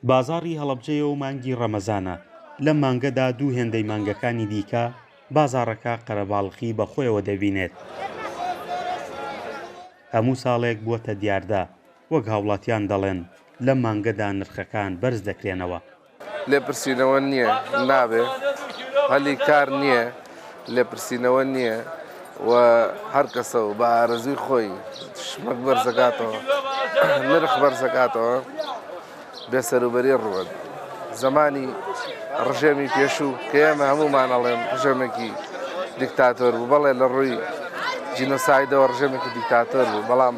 بازاڕی هەڵەبجەیە و مانگی ڕەمەزانە، لەم مانگەدا دوو هێندەی مانگەکانی دیکە بازاڕەکە قەرەباڵخی بە خۆیەوە دەبینێت. هەموو ساڵێک بووەتە دیاردە، وەک هاوڵاتیان دەڵێن، لەم مانگەدا نرخەکان بەرز دەکرێنەوە، لێپرسینەوە نییە نابێ هەلی کار نییە لێپرسینەوە نییە و هەر کەسە و بە ئارەزوی خۆی شمەک بەرزەکاتەوە نرخ بەرزەکاتەوە بێسەروبەری ڕوەت زمانی ڕژێمی پێشوو کە ئێمە هەمومان ئەڵێن ڕژێمێکی دیکتاتۆر بوو بەڵێ لە ڕووی جینۆسایدەوە ڕژێمێکی دیکتاتۆر بوو بەڵام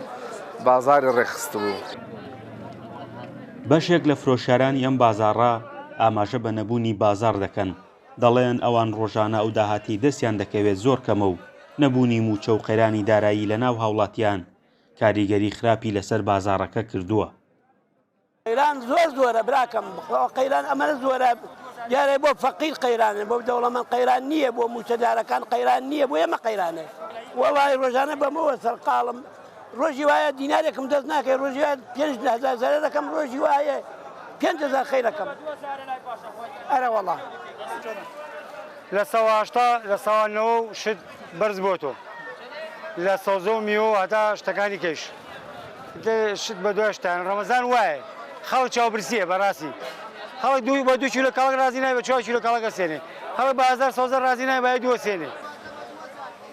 بازاری ڕێخست بوو. بەشێک لە فرۆشیارانی ئەم بازاڕە ئاماژە بە نەبوونی بازاڕ دەکەن، دەڵێن ئەوان ڕۆژانە ئەو داهاتەی دەستیان دەکەوێت زۆر کەمە و نەبوونی مووچە و قەیرانی دارایی لەناو هاوڵاتیان کاریگەری خراپی لەسەر بازاڕەکە کردووە. قەیران زۆر زۆرە براکەم قەیران ئەمەنە زۆرە دیارە بۆ فەقیر قەیرانە بۆ دەوڵەمەند قەیران نییە بۆ مووچەدارەکان قەیران نییە بۆ ئێمە قەیرانە وەڵای ڕۆژانە بەمەوە سەرقاڵم. ڕۆژی وایە دینارێکم دەست ناکەی ڕۆژی پێنج هزار زەرە دەکەم ڕۆژی وایە پێنج هزار خەی دەکەم ئەرەوەڵا لە سەهشتا لە ساوانەوە و شت بەرز بۆ تۆ لە سەوزە و میوە هەتا شتەکانی کەش شت بە دوشتان ڕەمەزان وایە خەڵ چاوبرسیە بەڕاستی خەڵک دوو بە دوو لە کاڵک ڕازی نای بە چوار لە کاڵەکە سێنێ هەڵ بە هزار سەوزە ڕازی نای بای دووە سێنێ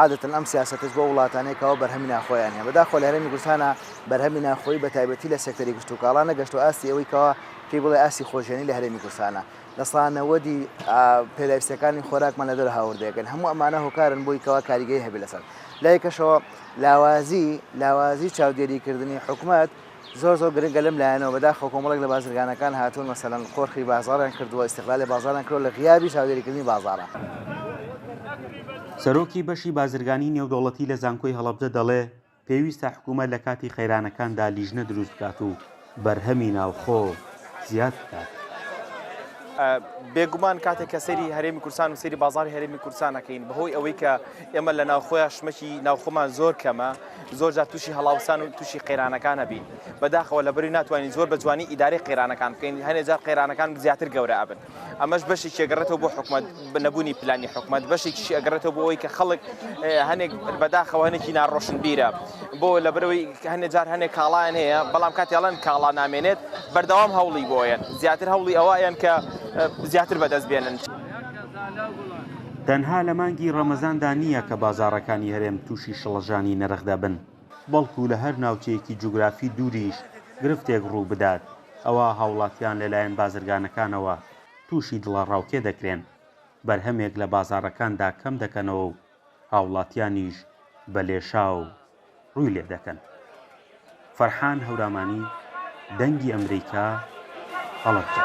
عادەتەن ئەم سیاسەتەش بۆ وڵاتانەیە کەوا بەرهەمی ناخۆیان هەیە، بەداخەوە لە هەرێمی کوردستانا بەرهەمی ناخۆیی بە تایبەتی لە سێکتەری کشتوکاڵا نەگەشتووە ئاستی ئەوەی کەوا پێی بڵێ ئاستی خۆژیانی لە هەرێمی کوردستانا لە سەدا نەوەدی پێداویستیەکانی خۆراکمان لە دەرەوە هاوردە دەکەین، هەموو ئەمانە هۆکارن بۆی کەوا کاریگەری هەبێ لەسەر لایەکەشەوە لاوازی لاوازی چاودێریکردنی حکومەت، زۆر زۆر گرنگە لەم لایەنەوە، بەداخەوە کۆمەڵێک لە بازرگانەکان هاتوون مەسەلەن قۆرخی بازاڕیان کردووە، ئیستغلالی بازاڕیان کردووە لە غیابی چاودێریکردنی بازاڕە. سەرۆکی بەشی بازرگانی نێودەوڵەتی لە زانکۆی هەڵەبجە دەڵێ، پێویستە حکوومەت لە کاتی قەیرانەکاندا لیژنە دروست بکات و بەرهەمی ناوخۆ زیاد بکات. بێگومان کاتێک کە سەیری هەرێمی کوردستان و سەیری بازاڕی هەرێمی کوردستان ئەکەین بەهۆی ئەوەی کە ئێمە لە ناوخۆیان شمەکی ناوخۆمان زۆر کەمە، زۆر جار تووشی هەڵاوسان و تووشی قەیرانەکان ئەبین بەداخەوە لەبەری ناتوانین زۆر بە جوانی ئیدارەی قەیرانەکان بکەین هەنێ جار قەیرانەکان زیاتر گەورە ئەبن ئەمەش بەشی چێگەڕێتەوە بۆ حکومت بنەبوونی پلانی حکومت بەشی چی ئەگەڕێتەوە بۆ ئەوی کە خەڵک هەنێک بەداخەوە هەنێکی ناڕۆشن بیرە بۆ لە برەوەی هەنێ جار هەنێک کاڵایان هەیە بەڵام کاتیاڵەن کاڵا نامێنێت بەردەوام هەوڵی بۆیە زیاتر هەوڵی ئەوەیان کە زیاتر بەدەست بێنن. تەنها لە مانگی ڕەمەزاندا نییە کە بازاڕەکانی هەرێم تووشی شڵەژانی نرخ دەبن، بەڵکو لە هەر ناوچەیەکی جوگرافی دووریش گرفتێک ڕووبدات، ئەوا هاوڵاتیان لەلایەن بازرگانەکانەوە تووشی دڵەڕاوکێ دەکرێن، بەرهەمێک لە بازاڕەکاندا کەم دەکەنەوە و هاوڵاتیانیش بە لێشاو ڕووی لێ دەکەن. فەرحان هەورامانی، دەنگی ئەمریکا، هەڵەبجە.